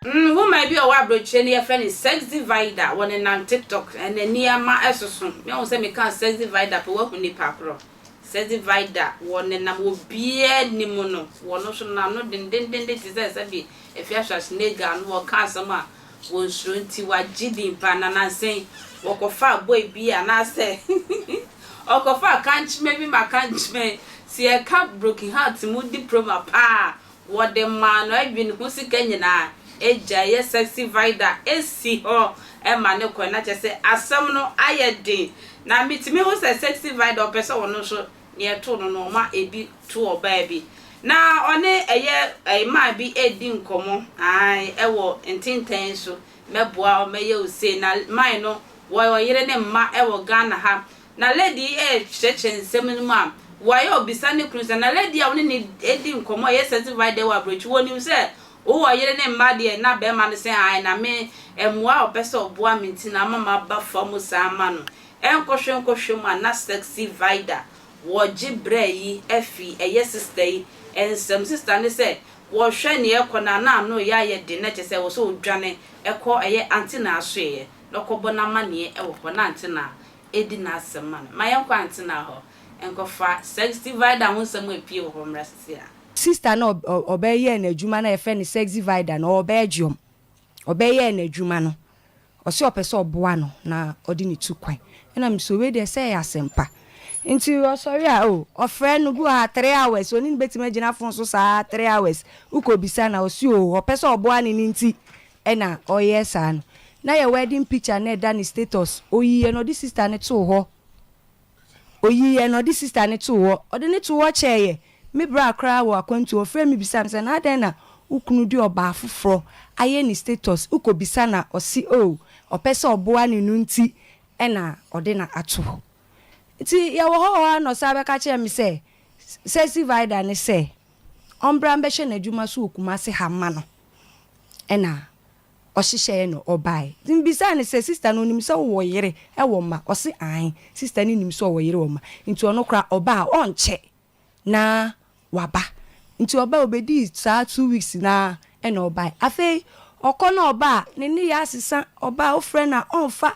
Nhoma bi a ɔwɔ aburokyire no yɛfrɛ no Sex Divider wɔ ne nan TikTok ɛna nneɛma ɛsoso me ahu sɛ mekaa Sex Divider pɛ wahu nipa korɔ Sex Divider wɔ ne nam obiara anim no wɔ no so n'ano dendendenden te sɛ sɛbi Afia Schwarzenegger no ɔka asɛm a wɔn suro nti wagye din paa na nansa yi wɔkɔfaa boy bi anaasɛ ɔkɔfaa kankyema bi ma kankyema yi sɛ yɛka broken heart mu diploma paa a wɔde maa no adwene ho sika nyinaa agyae yɛ sexy vida asi hɔ ma no kɔe na kyerɛ sɛ asɛm no ayɛ den na metumi hu sɛ sexy vida ɔpɛ sɛ ɔno nso Nea ɛtoo no no, ɔma ebi to ɔbaa bi, na ɔne ɛyɛ mmaa bi redi nkɔmmɔ, ae, ɛwɔ ntentɛn so, mɛboa wo, mɛyɛ wo sei, na mine no, wɔyɛ ɔyere ne mma ɛwɔ Ghana ha, na lady yi rekyerɛkyerɛ nsɛm no mu a, wɔayɛ ɔbisa ne kunu sɛ, na lady a wo ne no redi nkɔmmɔ ɛyɛ sɛnti vai dɛ wɔ aburokyire, wɔnim sɛ wowɔ ɔyere ne mma deɛ? Na barima no sɛ, ae, na me mmoa a ɔpɛ sɛ ɔboa me nti na ama maba fa mu saa ma no. Ɛnkɔhwɛ nkɔhwɛ mu a na Sexy Vida wɔgye brɛ yi afi ɛyɛ sista yi nsam. Sista no sɛ wɔhwɛ nea ɛrekɔ no a na ano reyɛ ayɛ den na kyerɛ sɛ ɛwɔ sɛ ɔdwane kɔ ɛyɛ Aunty Naa asoɛeɛ na ɔkɔbɔ no amanneɛ wɔ hɔ na Aunty Naa ɛdi n'asɛm ma no. Ma yɛnkɔ Aunty Naa hɔ nkɔfa Sexy Vida ho nsɛm a ɛpue wɔ hɔ mmra sisi a. Sista no ɔbɛyɛɛ n'adwuma no a yɛfrɛ no Sexy Vida no ɔbɛɛdwoɔm ɔbɛyɛɛ n'adwuma no Ɔse ɔpɛ sɛ ɔboa no na ɔde no tu kwan ɛna me se wei deɛ sɛ ɛyɛ asɛmpa nti ɔsɔre a oh ɔfrɛ no bi wɔ ha three hours ɔne no bɛtumi agyina phone so saa three hours wokɔ bisa no a ɔse oh ɔpɛ sɛ ɔboa no no nti ɛna ɔyɛ saa no na yɛ wedding picture na ɛda ne status ɔyiiɛ no ɔde sister no too hɔ Oyiiɛ na ɔde sista no too hɔ. Ɔde no too hɔ kyɛeɛ. Me bra koraa wɔ akwantuo hɔ frɛɛ me bisaa me sɛ, na adɛn na wo kunu de ɔbaa foforɔ ayɛ ne status? Wokɔbisa no a, ɔse oo, ɔpɛ sɛ ɔboa no no nti na ɔde no ato hɔ. Nti yɛwɔ hɔ hɔ ara na ɔsan bɛka kyerɛɛ me sɛ Sexy Vida no sɛ ɔmbra mbɛhwɛ n'adwuma so wɔ Kumasi ha mma no na Ɔhyehyɛɛ no ɔbae. Nti mebisaa no sɛ sister no onim sɛ wowɔ yere wɔ mma? Ɔse aane, sister no nim sɛ ɔwɔ yere wɔ mma. Nti ɔno koraa ɔba a ɔnkyɛ na waba. Nti ɔbae, obedii saa two weeks no ara ɛna ɔbae. Afei ɔkɔ na ɔba a, ne nneyɛɛ asesa, ɔba a wofrɛ no a ɔmfa,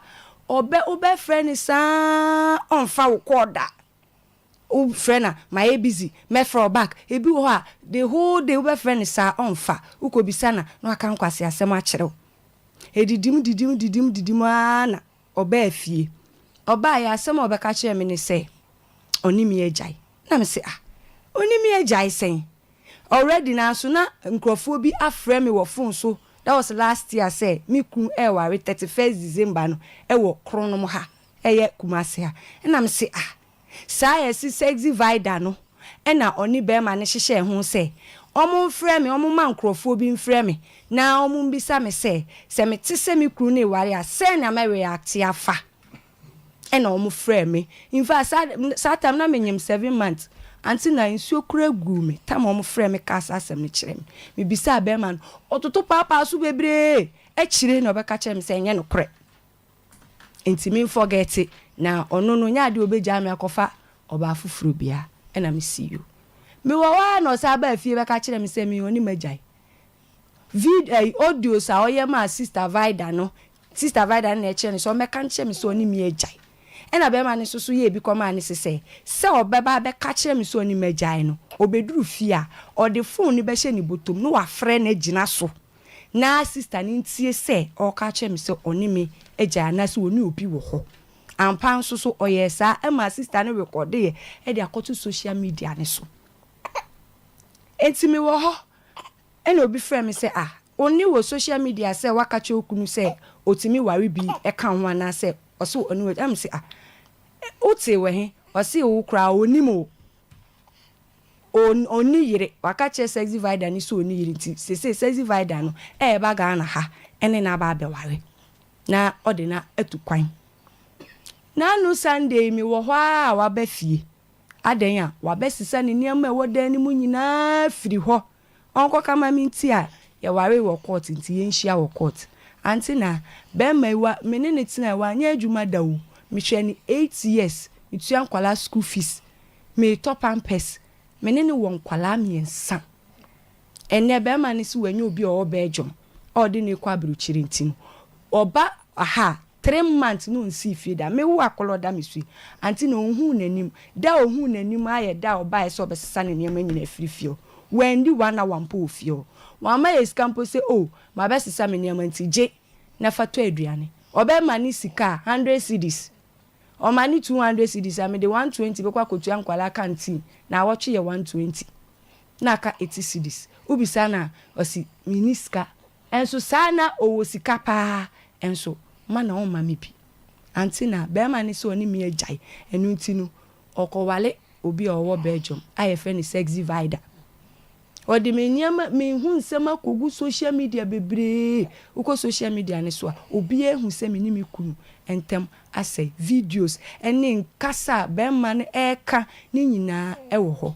ɔbɛ wobɛfrɛ no saa a ɔmfa wo call da. Wofrɛ no a, mayɛ busy, mɛfrɛ wo back. Ebi wɔ hɔ a, the whole day wobɛfrɛ no saa a, ɔmfa. Wokɔbisa no a, na waka nkwaseasɛm akyerɛ wo. Ɛdidim didim didim didim ara na ɔbaa fie. Ɔbaeɛ a, asɛm a ɔbɛka kyerɛɛ me ne sɛ, Ɔne me agyae. Na mese, Ah, ɔne me agyae sɛn? Already nanso na nkurɔfoɔ bi afrɛ me wɔ phone so, that was last year, sɛ me kunu reware thirty first December no wɔ Kronom ha. ɛyɛ Kumasi a ɛna me se ah saa yɛse Sexy Vida no ɛna ɔne bɛɛma no hyehyɛɛ ho sɛ ɔmo mfrɛ me ɔmo ma nkorɔfoɔ bi mfrɛ me na ɔmo mbisa me sɛ sɛ me te sɛ me kunu no eware a sɛɛ na mɛ react afa ɛna ɔmo frɛɛ me infact saa de saa time na me nyem seven months ante na nsuo koraa guu me time a ɔmo frɛɛ me kaa saa asɛm no kyerɛ me me bisaa bɛɛma no ɔtoto paapaa so bebree akyire na ɔbɛka kyerɛ me sɛ ɛnyɛ nokorɛ. Nti me nfɔgɛte na ɔno no nyɛ adeɛ a ɔbɛgyaa me akɔfa ɔbaa foforɔ biara ɛna me see you. Me wɔ hɔ ara na ɔsan baa fie bɛka kyerɛɛ me sɛ me ɔne m'agyae. Vid ɛyi audios a ɔyɛ maa sister Vida no, sister Vida no na ɛkyerɛ no sɛ ɔmmɛka nkyerɛ me sɛ ɔne me agyae. Ɛna bɛɛma no nso so yɛɛ bi kɔmaa no se sɛ, sɛ ɔbɛba abɛka kyerɛ me sɛ ɔne m'agyae no, ɔbɛduru fie a, ɔde phone no bɛhyɛ ne botom na wafrɛ no agyina so na sista no ntie sɛ ɔreka akyerɛ me sɛ ɔne me agyae anaasɛ ɔne obi wɔ hɔ. Ampa ara nso so, ɔyɛɛ saa. Ɛmaa sista no rekɔdeeɛ de akɔto social media no so. Enti mewɔ hɔ, ɛnna obi frɛɛ me sɛ, Ah, wo nne wɔ social media sɛ woaka kyerɛ wo kunu sɛ ɔtumi ware bi ka wo ho anaasɛ ɔse ɔne wo agyae. Ɛnna mese, Ah, wotee wɔ he? Ɔse, Wo koraa, ɔnnim o. O ɔnni yere, waka kyerɛ sexy vida no sɛ ɔnni yere nti seesei sexy vida no ɛɛba Ghana ha ɛne no aba abɛware na ɔde no atu kwan. Nanu Sunday me wɔ hɔ aa waba fie adɛn a wabɛsesa ne nneɛma a ɛwɔ dan no mu nyinaa afiri hɔ. Ɔnkɔ ka ma me nti a yɛwaree wɔ court nti yɛnhyia wɔ court. Ante na bɛɛma yi wa me ne no tenae wanyɛ adwuma da o mehwɛɛ no eight years metua nkwadaa school fees meetɔ pampers me ne no wɔ nkwadaa mmiɛnsa ɛnɛ bɛɛma no se wanya obi a ɔwɔ Belgium a ɔde no rekɔ abrokyire nti no ɔba ha a Three months no nsii fie da. Me wo akɔlɔ da me sui. Auntie na ohuu n'anim. Da a ohuu n'anim ara yɛ da a ɔbaeɛ sɛ ɔbɛsesa ne nneɛma nyinaa afiri fie hɔ. Wanndi one hour mpo wɔ fie hɔ. Wamma yɛn sika mpo sɛ oh mabɛsesa me nneɛma nti gye na fa tɔ aduane. Ɔbɛma ne sika a hundred cedis. Ɔma ne two hundred cedis a mede one twenty bɛkɔ akɔtua nkwadaa canteen. Naawɔtwe yɛ one twenty na aka eighty cedis. Wobisa no a ɔse menni sika Nso saa na ɔwɔ sika paa nso ma na ɔmma me bi. Ante na barima no sɛ ɔne me agyae. Ɛno nti no, ɔkɔware obi a ɔwɔ Belgium a yɛfrɛ no Sexy Vida. Ɔde me nneɛma, me ho nsɛm akɔgu social media bebree. Wokɔ social media no so a, obiara ahu sɛ me ne me kunu ntam asɛe. Videos ne nkasa a barima no reka no nyinaa wɔ hɔ.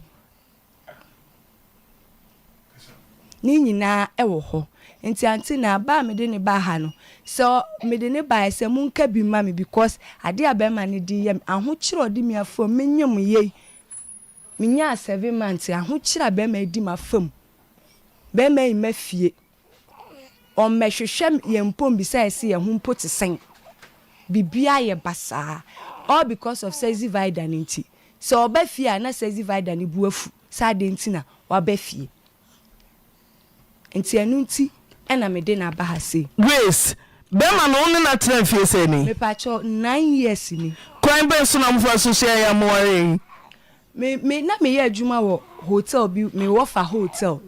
Ne nyinaa wɔ hɔ. Nti aunty na ba a mede no baa ha no, sɛ mede no baeɛ sɛ monka bi mma me because adeɛ a barima no de reyɛ me, ahokyere a ɔde me afa mu, menyem yɛ yi, menyaa seven months, ahokyere a barima yi di m'afa mu, barima yi mma fie. Wɔmmɛhwehwɛ yɛn mpo mbisae se yɛn ho mpo te sɛn. Biribiara ayɛ basaa, all because of Sexy Vida no nti. Sɛ ɔba fie a na Sexy Vida no bo afu sɛ adɛn nti na waba fie. Nti ɛno nti na mede no aba ha sei. Grace, Bɛrima no wo ne no atena mfeɛ sɛn ni? Mepaakyɛw, nine years ni. Kwan bɛn so na mofa so hyɛɛ yɛ a mowaree? Me me na meyɛ adwuma wɔ hotel bi me wɔfa hotel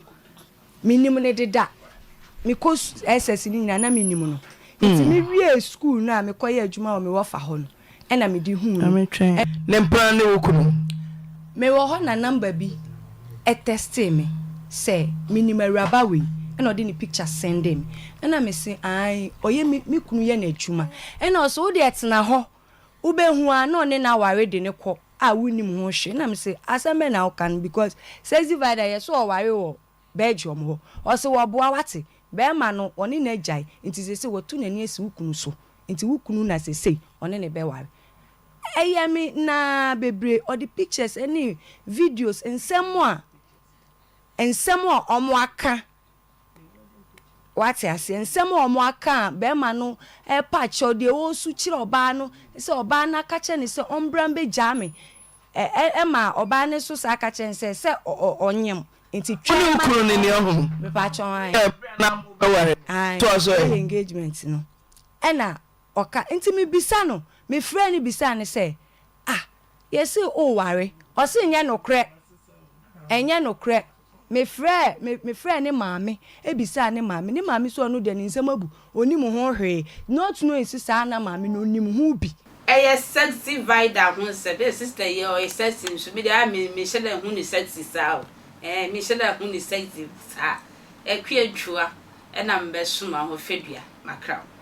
me nim no deda me kɔ SS no nyinaa na me nim no nti mm. me wie school no a me kɔ yɛ adwuma wɔ me wɔfa hɔ no ɛna me di hu no. Ne mpena ne wo kunu. Me wɔ hɔ na number bi ɛtɛstee me sɛ me nim awuraba wei ɛna ɔde ne picture sending me ɛna me se ae ɔyɛ me me kunu yɛ n'adwuma ɛna ɔsɛ wo deɛ tena hɔ wobehu a na ɔne no aware de no kɔ a wonnim ho hwee. Na mise, asɛm bɛn na woka no because Sexy Vida yɛ sɛ ɔware wɔ Belgium hɔ. Ɔse wɔboa wate, bɛɛma no ɔne no agyae nti sesei watu n'ani asi wo kunu so nti wo kunu na sesei ɔne no bɛware. Ɛyɛ me naa bebree, ɔde pictures ne videos, nsɛm a nsɛm a wɔaka. Wate aseɛ? Nsɛm a wɔaka a barima no repa akyɛw, deɛ ɔresu kyerɛ ɔbaa no sɛ ɔbaa no aka kyerɛ no sɛ ɔmbra mbɛgyaa me, ɛ, ɛ, ma ɔbaa no nso saa ka kyerɛ no sɛ, sɛ ɔ, ɔ, ɔnyem, nti twɛn ma. Wonim kunu no nea ɔhunu. Mepakyɛ wo, aane. Hwɛ, berɛ a na morebɛware no, Aane, toa so, ɛ. bɛyɛ engagement no, ɛna ɔka, nti mebisa no, mefrɛɛ no bisaa no sɛ, Ah, yɛse woreware, ɔse nyɛ nokorɛ, ɛnyɛ nokorɛ, Mefrɛɛ me mefrɛɛ ne maame bisaa ne maame, ne maame sɛ ɔno deɛ ne nsɛm abu, ɔnnim ho hwee, not knowing sɛ saa na maame no nim ho bi. Ɛyɛ sexy vider ho nsɛm ee sister yi ɔyɛ sexy nso me deɛ aa me me nhyɛ da nhu no sexy saa o ɛɛ me nhyɛ da nhu no sexy saa, Akua Ntua ɛna me bɛ soma ho fadua makra wo.